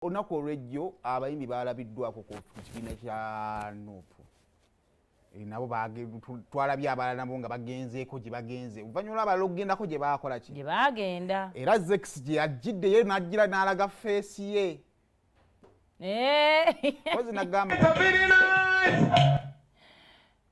olunaku olwejjo abayimbi baalabiddwako ku kibiina kya nup eh, nabo twalabye abalala nabo nga bagenzeeko gye bagenze oluvannyuma lwabalala okugendako gye baakola ki gye baagenda era zex gye yajjiddeyo n'ajjira n'alaga feesi ye eh. ozi nagamba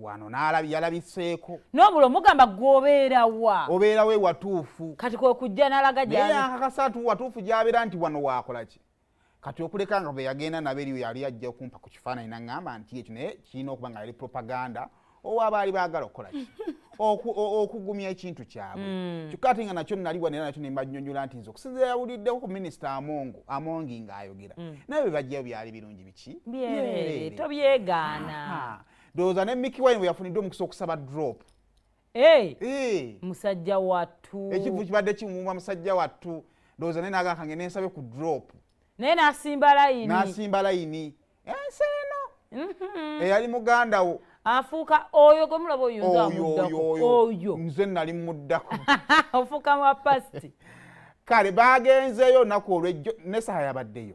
wano yalabiseeko nobula omugamba gwobeerawa obeerawo ewatuufu kati kwekujja nalaga gyakakasatu watuufu gyabeera nti wano wakolaki kati okuleka nga beyagenda nabo eriyo yali ajja okumpa ku kifaananyi naŋamba nti ekyo naye kirina okuba nga yali propaganda owa baali baagala okukolaki okugumya ekintu kyabwe hmm. kyokka ate nga nakyo naliwa nera nakyo nembanyonyola nti nze okusinzira yawuliddeko ku minisita amongo amongi ngaayogera hmm. naye bebajjayo byali birungi ki byerere tobyegaana ndowooza ne miki wine weyafunidde omukisa okusaba drop hey, hey. musajja wattu ekivu kibadde kimumwa musajja wattu ndowooza naye nagakange nensabe ku drop naye nasimba layini nasimba layini ensi eno mhm. eyali muganda wo afuuka oyo gwe mulaba oyunzaoyo nze nali muddako ofuuka mwa pasti kale bagenzeeyo naku olwejjo nesaha yabaddeyo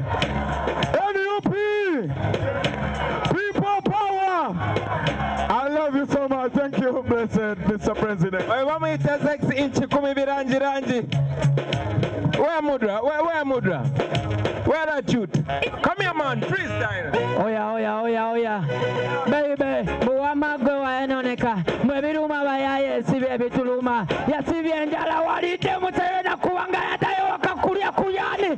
NUP people power. I love you so much. Thank you, blessed Mr. President. Oyo bamuyita sex inch kumi birangi rangi. Where mudra? Where, where mudra? Where are you? Come here man, freestyle. Oya oya oya oya. Baby, buwama gwe wayenoneka. Mwe biruma bayaye sibye bituluma. Yasibye njala walite mutayona kuwanga yatayoka kulya kuyani.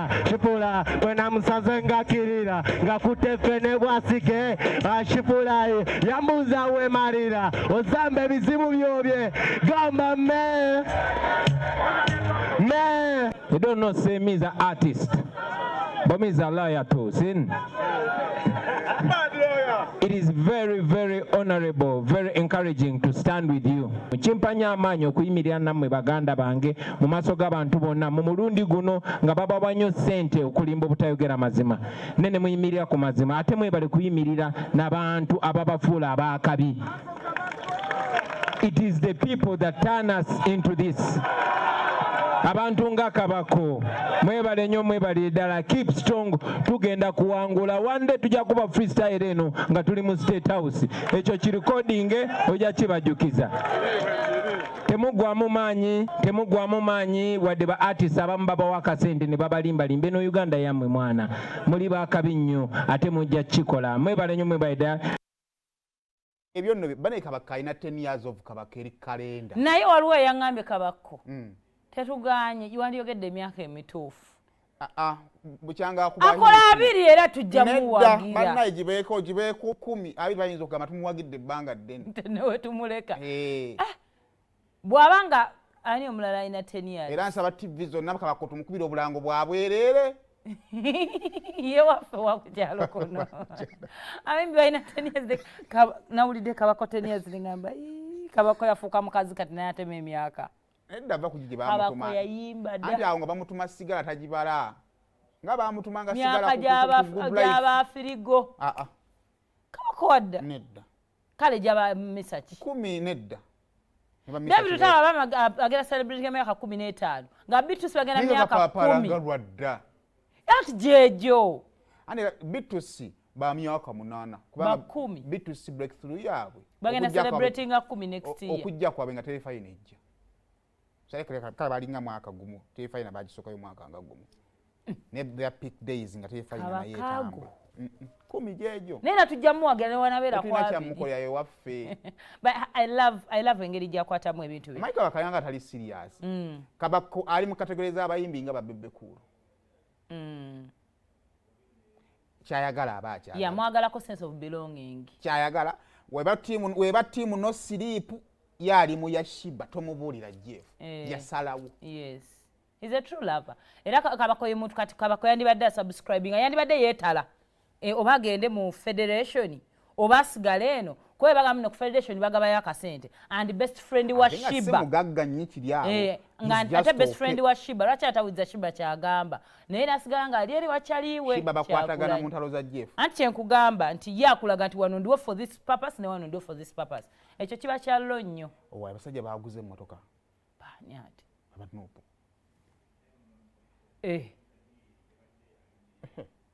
shipula wena musaze ngakirira ngakute fene bwasike ashipulayi yambuza wemarira ozambe bizibu byobye gamba me me you don't know say me is an artist but me is a liar too sin It is very, very honorable, very encouraging to stand with you. Mukimpanya amaanyi okuyimirira nammwe baganda bange mu maaso g'abantu bonna mu mulundi guno nga babawa nnyo ssente okulimba obutayogera mazima ne ne muyimirira ku mazima ate mwebale kuyimirira n'abantu ababafuula abaakabi it is the people that turn us into this abantu nga kabako mwebale nyo mwebale ddala keep strong tugenda kuwangula one day tujja kuba freestyle eno nga tuli mu state house ekyo kirekodinge ojja kibajukiza temugwamu maanyi temugwamu maanyi wadde ba artist abamu babawo akasente ne babalimbalimba eno uganda yammwe mwana muli bakabi nnyo ate mujja kukikola mwebale nnyo mwebaleda ebyo nno bane kabaka alina 10 years of kabaka eri kalenda naye waliwo eyaŋambye kabakko mm. tetuganye wandiyogedde emyaka emituufu Ah, akola abiri era tujja muwagirabannaye gibeeko gibeeko kumi abiri bayinza okugamba tumuwagidde ebbanga ddene newe tumuleka eh. ah, bw'aba nga ani omulala alina teniyas era nsaba tivi zonna kabako tumukubira obulango bwa bwereere ye waffe wakukyalo kuno abimbi balina teniyas nawulidde kabako teniyas ligamba kabako yafuuka mukazi kati naye atema emyaka Nedda va kugye bamutuma. Ati awo nga bamutuma sigala tajibala. Nga bamutuma nga sigala kugula. Myaka jaba firigo. Ah ah. Kama kowadda. Nedda. Kale jaba misaki. Kumi nedda. David Lutalo abama agera celebrity myaka kumi n'etaano nga Beatrice bagenda myaka kumi. Naye nga papa alanga lwadda. That jejo. Ani bitusi ba myaka munana kubanga kumi bitusi breakthrough yabwe. Bagenda celebrating a kumi next year. Okujja kwa benga tele fine ejja. Sale kale kale balinga mwaka gumu tele fine bajisoka yo mwaka nga gumu. Mm. Ne their peak days nga tele fine na yetamu. kumi gyejo naye natujja muwagira newanabeera kwakyamukolera ewaffe engeri gyakwatamu ebintu bye maika bakayanga atali serious mm. kabako ali mu kategore z'abayimbi nga babebekuulu mm. kyayagala aba akyayamwagalako sense of belonging kyayagala weba tiimu no siriipu yaali mu yashiba tomubuulira jeff eh. yasalawo yes is a true lover era kabakoye muntu kati kabako yandibadde asubscribinga yandibadde yeetala e, oba agende mu federation oba asigale eno kuba bagamba ku federation bagabayo akasente and best friend wa shiba eh, ate best friend wa shiba lwaki atawiza shiba kyagamba naye nasigala nga ali eri wakyaliwe anti kyenkugamba nti ye akulaga nti wano ndiwo for this purpose ne wano ndiwo for this purpose ekyo kiba kyallo nnyo abasajja baguze emotoka baani ati aba nupu eh.